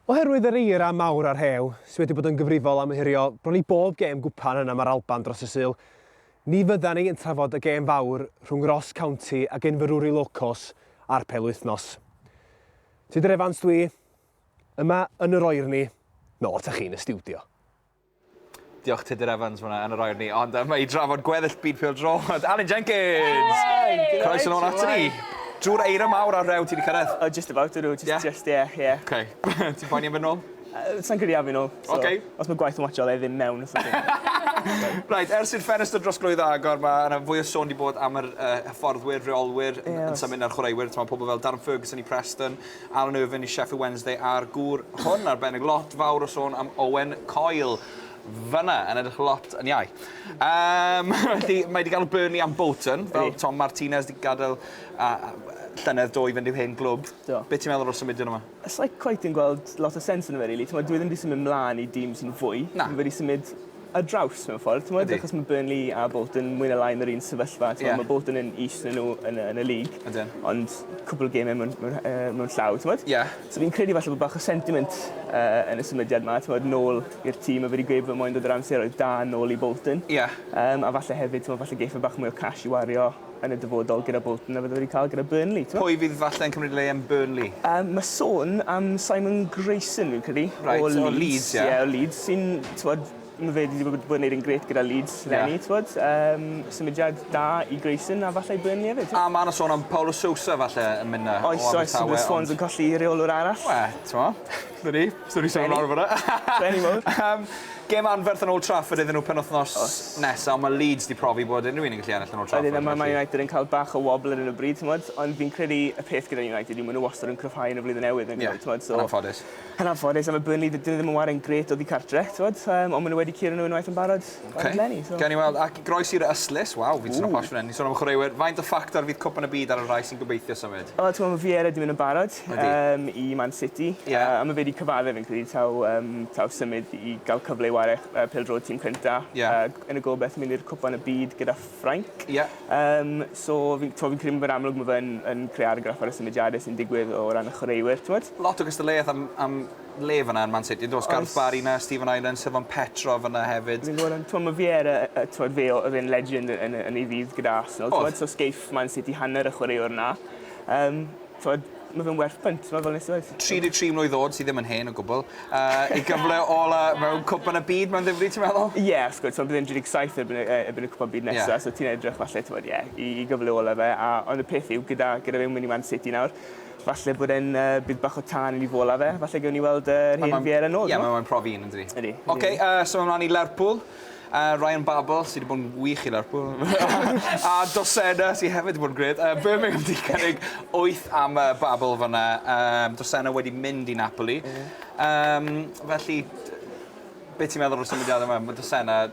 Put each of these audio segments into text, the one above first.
Oherwydd yr eira mawr a'r rhew, sydd wedi bod yn gyfrifol am ohirio bron i bob gêm gwpan yn Am yr Alban dros y Sul, ni fyddan ni yn trafod y gêm fawr rhwng Ross County a Gynfyrwri Locos a'r Pelwythnos. Tudur Evans dwi, yma yn yr oerni, nôl ata chi yn y stiwdio. Diolch Tudur Evans fyna yn yr air ni, ond mae i drafod gweddill byd pêl drod, Alun Jenkins! Croes yn ôl ato ni! Drwy'r eira mawr ar rew ti wedi cyrraedd? Oh, just about, ydw, just, yeah. just, yeah, yeah. Okay. Ti'n poeni am fy nôl? Uh, Sa'n credu am fy nôl. So, okay. Os mae gwaith yn watcho, dde ddim mewn. right, ers i'r ffenest o drosglwyddo agor, mae yna fwy o sôn di bod am yr uh, hyfforddwyr, reolwyr, yes. yn symud na'r chwaraewyr. Mae pobl fel Darren Ferguson i Preston, Alan Irvine i Sheffield Wednesday a'r gŵr hwn arbennig, lot fawr o sôn am Owen Coyle fanna, yn edrych lot yn iau. Um, mae wedi gael Burnley am Bolton, fel Tom Martinez wedi gadael a, a, llynedd do i fynd i'w hen glwb. Do. Be ti'n meddwl o'r symudiad yma? It's like quite yn gweld lot o sens yn y fe, really. Dwi ddim wedi symud mlaen i dîm sy'n fwy. Na. Fi wedi symud ar draws mewn ffordd t'mod... Ydi. ...achos ma' Burnley a Bolton mwy ne' lai yn yr un sefyllfa t'mo'... Ie. ...ma' Bolton yn is na n'w yn y yn y league. Ydyn. Ond cwpwl o geme mewn mewn rha- yy mewn llaw t'mod? Ie. So fi'n credu falle bo' bach o sentiment yy yn y symudiad 'ma t'mod nôl i'r tîm a fi 'di gweud fy moyn dod yr amseroedd da nôl i Bolton. Ie. Yym a falle hefyd t'mo' falle geith e bach mwy o cash i wario yn y dyfodol gyda Bolton na fydde wedi cael gyda Burnley, t'mo'? Pwy fydd falle'n cymryd le yn Burnley? Yym ma' sôn am Simon Grayson fi'n credu. Reit, o Leeds. O Leeds ie. Ie o Leeds sy'n t'mod ma' fe 'di bod yn neud yn grêt gyda Leeds leni t'mod yym symudiad da i Grayson a falle i Burnley efyd t'mo'? A ma' 'na sôn am Paulo Sousa falle yn myn' 'na o Abertawe ond... Oes oes ma' Swans yn colli rheolwr arall. Wel t'mo'? 'Na ni. So ni sôn am lawr fynna. Benny mowr. Yym gem anferth yn Old Trafford iddyn nhw penwthnos nesa on' ma' Leeds 'di profi bod unryw un yn gallu ennill yn Old Trafford felly... Ydyn a ma' Man United yn ca'l bach o wobl ar 'yn o bryd t'mod ond fi'n credu y peth gyda United yw ma' n'w wastod yn cryfhau yn y flwyddyn newydd on'd 'yn nhw t'mod so... Ie yn anffodus. Yn anffodus a ma' Burnley 'dyn nw ddim yn ware yn grêt oddi cartre t'mod yym on' ma' n'w wedi curo n'w unwaith yn barod. Oce. Eleni so. Gawn ni weld ac groes i'r ystlys. Waw fi'n teimlo posh fan 'yn. Ni'n sôn am y chwaraewyr. Faint o ffactor fydd Cwpan y Byd ar y rhai sy'n gobeithio symud? Wel t'mo' ma' Vieira 'di mynd yn barod. Ydi. Yym i Man City. Ie. Yy a ma' fe 'di cyfadde fi'n credu taw yym taw symud i ga'l cyfle i ware ch- yy pêl-drod tîm cynta. Ie. Ag yn y gobeth mynd i'r Cwpan y Byd gyda Ffrainc. Ie. Yym so fi'n t'mo' fi'n credu ma' fe'n amlwg ma' fe yn yn creu argraff ar y symudiade sy'n digwydd o ran y chwaraewyr t'mod? Lot o gystadleuaeth am am le fyna yn Man City yndos? Oes. Garth Barry 'na, Steven Ireland, Sylvain Petrov yna hefyd. Fi'n gweld t'mo' ma' Vieira yy yy t'mod fe o- o'dd e'n legend yn yn yn ei ddydd gyda Arsenal t'mod? O'dd. So sgeiff Man City hanner y chwaraewr 'na. Yym t'mod ma' fe'n werth punt fel fel nes i weud. 33 mlwydd o'd sy ddim yn hen o gwbwl. Yy ei gyfle ola mewn cwpan y byd ma'n ddifri ti'n meddwl? Ie wrth gwrs t'mod bydd e'n 37 erbyn y yy erbyn y cwpan byd nesa. Ie. So ti'n edrych falle t'mod ie i i gyfle ola fe a ond y peth yw gyda gyda fe'n myn' i Man City nawr Falle bod e'n yy byd bach o tân i ni fola fe. Falle gewn ni weld yy yr hen Vieira nôl t'mo'? Ie ma' mae'n profi 'un yndydi? Ydi. Ok yy so mlan i Lerpwl a Ryan Babel sy 'di bod yn wych i Lerpwl. A Dossena sy hefyd 'di bod yn grêt. Yy Birmingham 'di cynnig wyth am yy Babel fan 'na yym Dossena wedi mynd i Napoli. Ie. Yym felly d- be' ti'n meddwl o'r symudiade 'ma ma' Dossena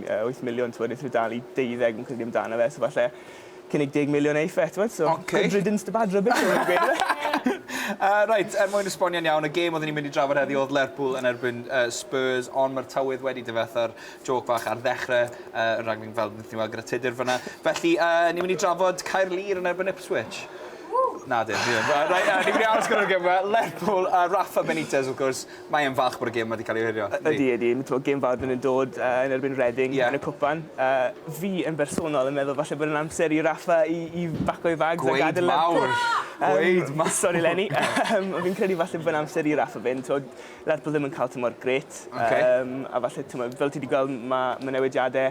8 miliwn t'mod nethon n'w dal i deuddeg fi'n credu amdano fe so falle cynnig deg miliwn e i fe t'mod so... Oce. ...good riddance to bad rubbish fel ma' nw'n gweud on'd yfe? Yy reit er mwyn esbonio'n iawn y gêm odden ni mynd i drafod heddi odd Lerpwl yn erbyn yy Spurs on' ma'r tywydd wedi difetha'r jôc fach ar ddechre yy y raglen fel nethon ni weld gyda Tudur fyn 'na felly yy ni myn' i drafod Caerlŷr yn erbyn Ipswich. Ww! Nadi fi ddim yy rei- yy ni myn' i aros gyda'r geme Lerpwl a Rafa Benitez wrth gwrs Mae e'n falch bod y gêm wedi cael ei ohirio, yndi? Ydy, ydy. T'mo' gêm fawr fydd e'n dod yy yn erbyn Reading... Ie. ...yn y cwpan. Yy fi yn bersonol yn meddwl falle bod e'n amser i Rafa i i baco ei fags a gadel Lerpwl. Gweud mawr! Gweud ma-! Yym sori Lenny. Yym fi'n credu falle bo' fe'n amser i Rafa fynd t'wod Lerpwl ddim yn ca'l tymor grêt. Oce. Yym a falle t'mo' fel ti 'di gweld ma' ma' newidiade